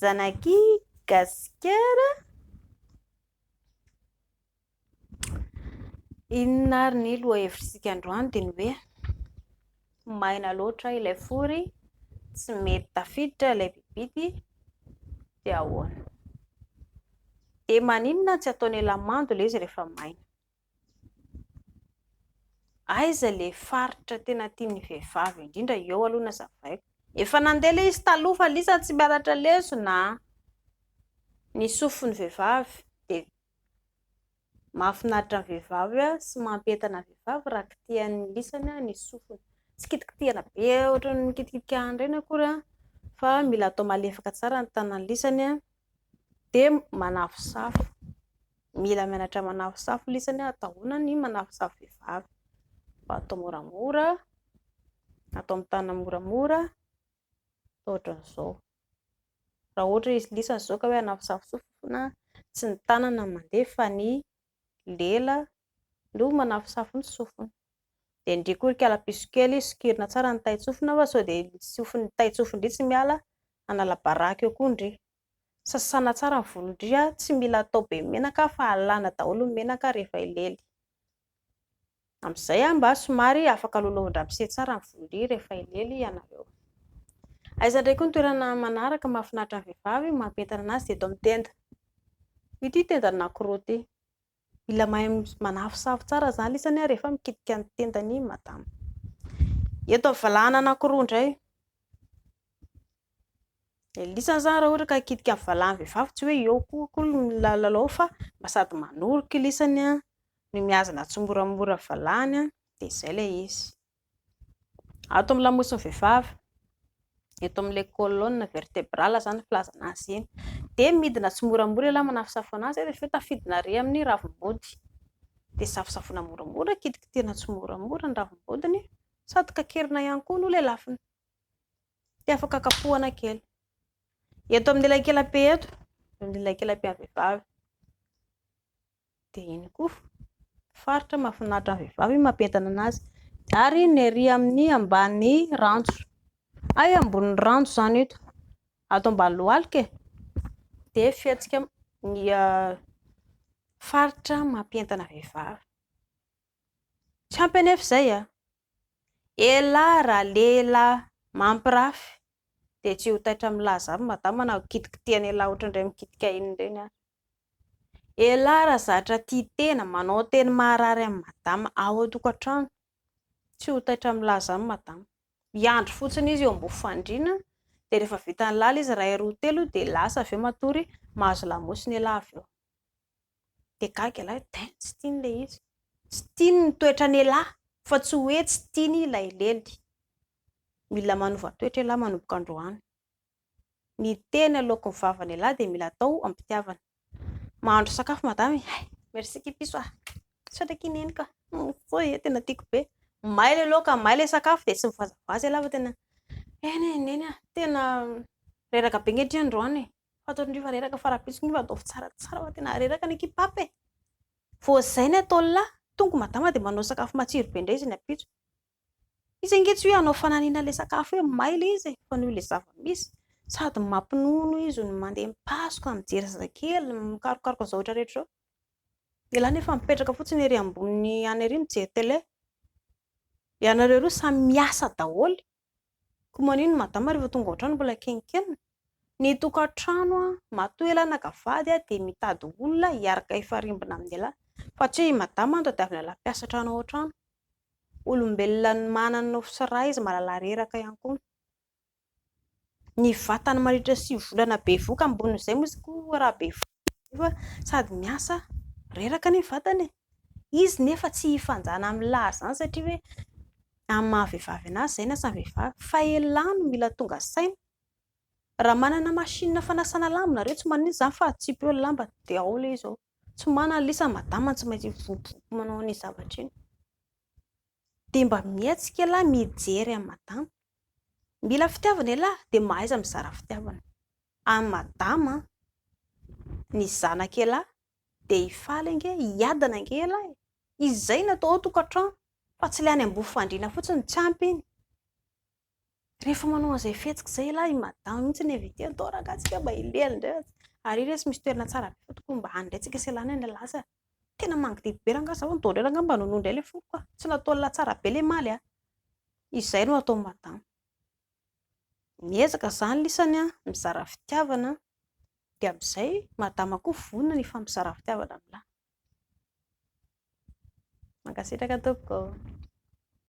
Zanaky Gasikara. Inona ary ny lohahevitr'isika androany dia ny hoe maina loatra ilay fory, tsy mety tafiditra ilay bibidy dia ahoana? Dia maninona tsy ataon'ila mando ilay izy rehefa maina? Aiza le faritra tena tian'ny vehivavy indrindra eo aloha nazavaiko. Efa nandeha le izy taloha fa lisa tsy mianatra lesona a! Ny sofin'ny vehivavy de mahafinaritra ny vehivavy a sy mampientana ny vehivavy raha kitihan'ny lisany a ny sofiny. Tsy kitikitihana be ohatran'ny mikitikitika an'ireny akory a! fa mila atao malefaka tsara ny tanan'ny lisany a! de manafosafo. Mila mianatra manafosafo lesy anie atahoana ny manafosafo vehivavy fa atao moramora atao amin'ny tanana moramora atao ohatran'izao raha ohatra izy lisany izao ka hoe hanafosafo sofina tsy ny tanana no mandeha fa ny lela no manafosafo ny sofina dia indreo koa ry kalapiso kely sokirina tsara ny tain-tsofina fa sao dia ny sofin'ny tain-tsofina indray tsy miala hanala baraka eo koa indreo Sasana tsara ny volon-dry, tsy mila atao be menaka fa alana daholo ny menaka rehefa elely. Amin'izay mba somary afaka lolovindrapise tsara ny volon-dry rehefa elely ianareo. Aiza indray koa ny toerana manaraka mahafinaritra ny vehivavy mampientana an'azy dia eto amin'ny tenda. Ity tendan'i Nakoro ity. Mila mahay manafosafo tsara zany lisany rehefa mikitika ny tendany madama. Eto amin'ny valahana anankiroa indray. Dia lisany zany raha ohatra ka hikitika ny valahana vehivavy tsy hoe eo koa koa ny lalao fa mba sady manoroka lisany no mihazona tsimoramora valahana dia izay ilay izy. Ato amin'ny lamosin'ny vehivavy, eto amin'ilay colonne vertebrale izany no filazana azy iny, dia midina tsimoramora ialahy manafosafoana azy, rehefa avy eo tafidina irery amin'ny ravim-body, dia safosafoina moramora, kitikitihina tsimoramora ny ravim-bodiny, sady kakerina ihany koa no lelafiny, dia afaka kapohana kely. Eto amin'ny elakelam-pe eto, eo amin'ny elakelam-pen'ny vehivavy. Dia iny koa faritra mahafinaritra ny vehivavy iny mampientana anazy. Ary ny ery amin'ny ambany ranjo, hay ambony ranjo izany eto, ato ambany lohalika e, dia fihetsika ny faritra mampientana vehivavy. Tsy ampy anefa izay an! Elah raha lehilahy mampirafy dia tsy ho taitra milaza avy madama na ho kitikitihana elah ohatr'ireny mikitika iny ireny aza. Elah ra zatra tia tena manao teny maharary an'i madama ao an-tokantrano, tsy ho taitra milaza aminy madama. Miandry fotsiny izy eo ambony fandriana dia rehefa vita ny lalina izy iray roa telo dia lasa avy eo matory mahazo lamosina elah avy eo. Dia gaga elah hoe dain tsy tiany ilay izy, tsy tiany ny toetran'elah fa tsy hoe tsy tiany ilay lely. Mila manova toetra elah manomboka androany. Ny tena loakon'ny vavan'ialahy dia mila atao am-pitiavana. Mahandro sakafo madama e. Hay, merci kipiso ah. Misaotra ki neniko ah. Mifoy e, tena tiako be. May ilay loaka, may ilay sakafo dia tsy mivazavaza ialahy fa tena eny e, neny ah. Tena reraka be ankehitriny androany e. Fantatra indrindra fa reraka fa rahampitso ange fa ataovy tsaratsara fa tena reraka ny ekipa hafa e. Vao izay ny ataon'ilahy, tonga i madama dia manao sakafo matsiro be indray izy ny ampitso. Izy ange tsy hoe hanao fananina ilay sakafo hoe may ilay izy e, fa noho ilay zava-misy. Sady mampinono izy no mandeha mipasoka, mijery zazakely, mikarokaroka ny zavatra rehetra izao. Dia lany efa mipetraka fotsiny ery ambony any ery mijery tele. Ianareo roa samy miasa daholo. Ko manino madama rehefa tonga ao an-trano mbola kenkenina? Ny tokantrano matoa ialahy naka vady dia mitady olona hiaraka hifarimbona amin'ny ialahy fa tsy hoe i madama no tadiavina ialahy mpiasa hatrany ao an-trano. Olombelona manana ny nofo sy ra izy mahalala reraka ihany koa. Ny vatany mandritra sivy volana bevoka ambonin'izay moa izy koa raha bevoka. Nefa sady miasa, reraka ny vatana e! Izy nefa tsy hifanjana amin'ny lahy izany satria hoe amin'ny maha vehivavy anazy izay ny asan'ny vehivavy fa elah no mila tonga saina. Raha manana machine fanasana lamba nareo tsy maninona izany fa atsipy eo ny lamba dia ao ilay izy ao. Tsy manana ilay izy fa madama tsy maintsy mivompompo manao an'iny zavatra iny. Dia mba mihetsika elah mijery an'i madama. Mila fitiavana elah dia mahaiza mizara fitiavana. An madama an! Ny zanaka elah dia hifaly ange, hiadana ange elah e! Izay no atao ao tokantrano fa tsy ilay any ambovo fandriana fotsiny no tsy ampy iny. Rehefa manao an'izay fihetsika izay elah i madama mihitsy ny invité ny tao rangahy tsika mba hilehany indray aza. Ary ry reto misy toerana tsara be fa tokony mba any indray tsika sy ialana any elah sa tena mangidihidy be rangahy zaho nidao indray rangahy mba nonoa indray ilay foko ka. Tsy nataon'lah tsara be ilay maly an! Izay no atao madama. Miezaka izany lisany an, mizara fitiavana dia amin'izay madama koa vonona ny hifampizara fitiavana amin'ilay. Mankasitraka tompoko.